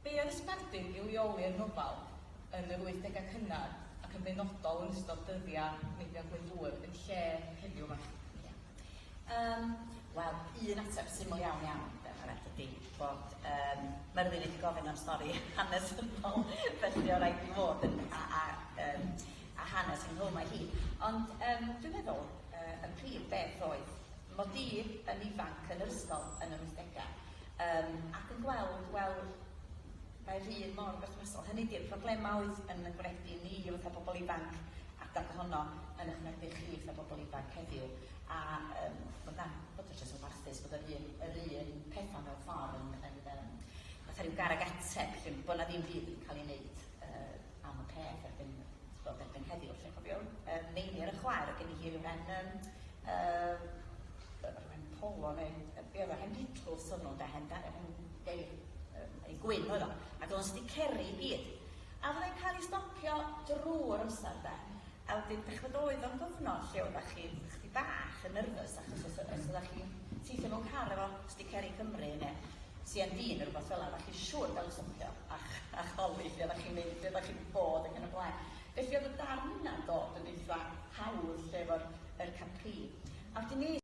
Be oedd y sbardun i leoli'r nofel yn yr wythdegau cynnar ac yn benodol yn ystod dyddiau Meibion Glyndŵr yn lle heddiw 'ma? Ie. Yym. Wel, un ateb syml iawn iawn, diolch Anette, ydi bod yym Merfyn wedi gofyn am stori hanesyddol felly o raid i fod yn a a yym a hanes ynghlwm â hi. Ond yym dwi'n meddwl yy y prif beth oedd mod i yn ifanc yn yr ysgol yn yr wythdegau yym ac yn gweld, wel, mae'r un mor berthnasol, hynny ydi'r problemau oedd yn y gweithdy ni fatha pobl ifanc adeg honno yn eich gweithdy chi fatha pobl ifanc heddiw. A yym bod 'na... bod o jyst yn warthus bod yr un... yr un petha mewn ffor' yn yn yym fatha ryw garreg ateb 'lly, bod 'na ddim byd yn ca'l 'i neud yy am y peth erbyn t'bod erbyn heddiw 'lly. Cofiwn yym Meinir y chwaer o'dd gen i hi ryw ren yym yy yy ryw ren polo ne' yy be' o'dd o hen Beetles o'n nhw 'nde hen da- hen gei- yym ei gwyn oedd o ac o'dd o'n sticeri i gyd a fyddai'n ca'l 'i stopio drw'r amsar 'de A wedyn dach ch'mod oedd o'n gyfnod lle oddach chi chydig bach yn nervous achos os o- os oddach chi'n teithio mewn car efo Stick Ceri Cymru ne' See Em Dee ne' rwbath fela oddach chi siŵr ga'l y stopio a ch- a chwalu lle oddach chi'n mynd lle oddach chi bod ac yn y blaen. Felly o'dd y darn yna'n dod yn eitha hawdd lle efo'r yr Capri. A wedyn es